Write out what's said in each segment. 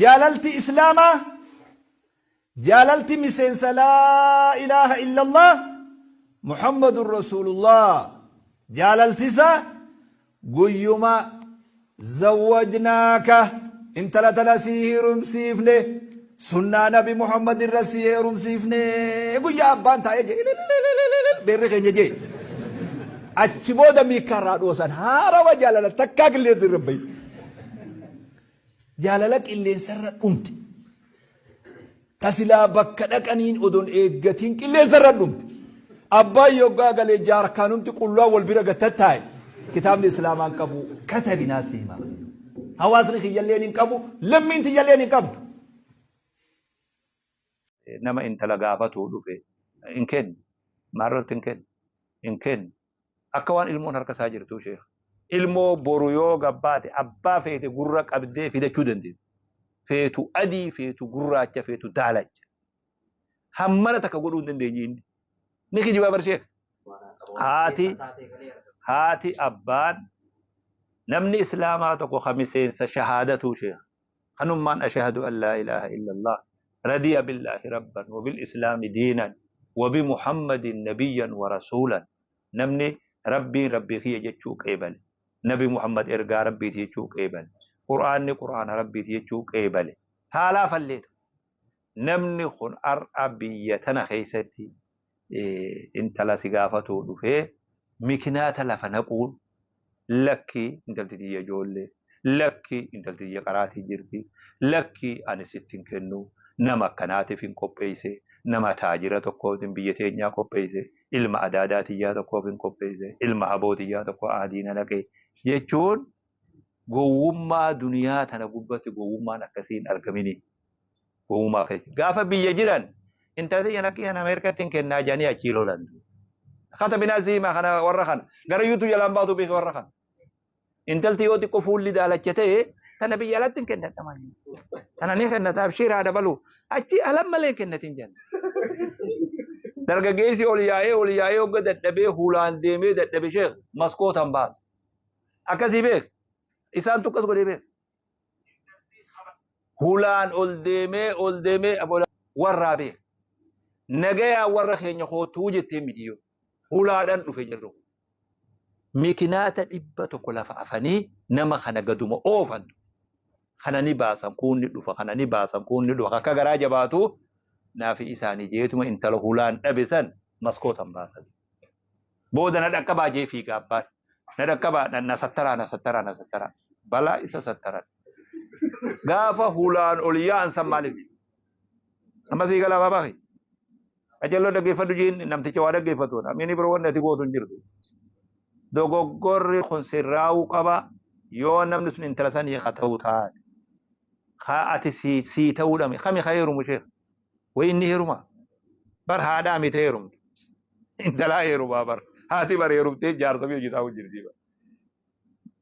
Jaalalti Islaamaa jaalalti miseensa Laa ilaaha illallaah Muhammadun Rasuulullaah jaalalti isaa guyyuma Zawwajnaaka intala tana sii heerumsiifne sunnaa Nabi Muhammad irra sii heerumsiifne guyyaa abbaan taa'ee jee ililililililil beerri keenya jee achi booda miikkaa irraa dhoosan haarawa jaalala takkaa qilleensi irra hin bahin. Jaalala qilleensarra dhumte. Ta silaa bakka dhaqaniin odon eeggatiin qilleensarra dhumte. Abbaan yoggaa gale jaarkaanumti qullaan wal bira gad tattaa'e. Kitaabni Islaamaa hin qabu. Katabinaa si himaa. Hawaasni kiyyalleen hin qabu. Lammiin tiyyalleen hin qabdu. Nama intala gaafatuu dhufe hin kennu. Maal irratti hin kennu? Hin kennu. Akka waan ilmoon harka isaa jirtuu sheekh. Ilmoo boru yoo gabbaate abbaa feete gurra qabdee fidachuu dandeessu. Feetu adii, feetu gurraacha, feetu daalacha. Hammana takka godhuu hin dandeenye inni. Ni kijibaa bar sheekh. Haati haati abbaan namni islaamaa tokko ka miseensa shahaadatuu sheekh. Kanummaan Ashahadu an laa ilaaha illallah radiya billaahi rabban wa bil islaami diinan wa bi Muhammadin nabiyyan wa rasuulan Namni Rabbiin Rabbii kiyya jechuu qeebale, Nabi Muhammad ergaa Rabbiiti jechuu qeebale, Qur'aanni Qur'aana Rabbiiti jechuu qeebale haa laafalleetu namni kun har'a biyya tana keessatti intala si gaafatuu dhufee mikinaata lafa naquun lakki intalti tiyya ijoollee lakki intalti tiyya qaraatii jirti lakki ani sitti hin kennu nama akkanaatiif hin qopheesse nama taajira tokkootiin biyya teenyaa qopheesse ilma adaadaa tiyyaa tokkoof hin qopheesse ilma haboo tiyyaa tokko aadiina naqee jechuun gowwummaa duniyaa tana gubbatti gowwummaan akkasii hin argamini. Uumaa kee. Gaafa biyya jiran intala tiyya na kiyyan Ameerikatti hin kennaa jedhanii achii lolan. Kata binaa ziimaa kana warra kana. Gara yuutuu jalaan baatu beeka warra kana. Intalti yoo xiqqoo fuulli daalacha ta'e tana biyya alatti hin kennadha malee. Tana ni kennata abshiir haa dabalu. Achi alan malee hin kennatin jenna. Dargaggeessi ol yaa'ee ol yaa'ee hogga dadhabee hulaan deemee dadhabe sheek maskootan baasa. Akkasii beek. Isaan tukkas godhee beek. hulaan ol deemee ol deemee aboola warraa beeka. Nagayaa warra keenya kootuu jettee midiyyoo hulaadhaan dhufe jirru. Mikinaata dhibba tokko lafa afanii nama kana gaduma oofan. Kana ni baasan kuun ni dhufa kana ni baasan kuun ni dhufa akka garaa jabaatu naafi isaanii jeetuma intala hulaan dhabe san maskootan baasanii. Booda na dhaqqabaa jee fiiga abbaan. Na dhaqqabaa na, na sattaraa na sattaraa na sattaraa. Balaa isa sattaran. Gaafa hulaan ol yaa'an san maaliif? Amma sii galaa baabaa kee. Ajalloo dhaggeeffadhu jiin namticha waa dhaggeeffatu. Namni biroo wanni ati gootu hin jirtu. Dogoggorri kun sirraa'uu qaba. Yoo namni sun intala sanii haa ta'uu taate. Haa ati sii, sii ta'uu dhame. Kami haa heerumu ishee? Way inni heerumaa? Bar haadhaa miti heerumtu. Intalaa heerumaa bar. Haati bar heerumtee jaarsa fi hojitaa hojjirtii bar.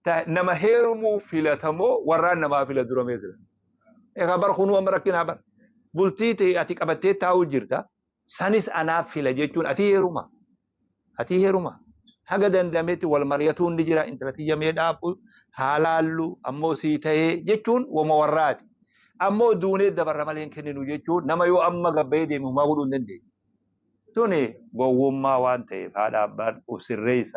Ta nama heerumuu filatamoo warraan namaa fila dura mee sila. Egaa bar kunuu amma rakkinaa bar. Bultii tee ati qabattee taa'uu jirta. Sanis anaaf fila jechuun ati heerumaa? atii heruma haga dandameti wal mariyatuun ni jira intala tiyya mee dhaabbu haa laallu ammoo sii tahee jechuun woma warraati ammoo duunee dabarra malee hin kenninu jechuun nama yoo amma gabbayee deeme humaa godhuu hin dandeenye tuni gowwummaa waan ta'eef haadha abbaan uf sirreessa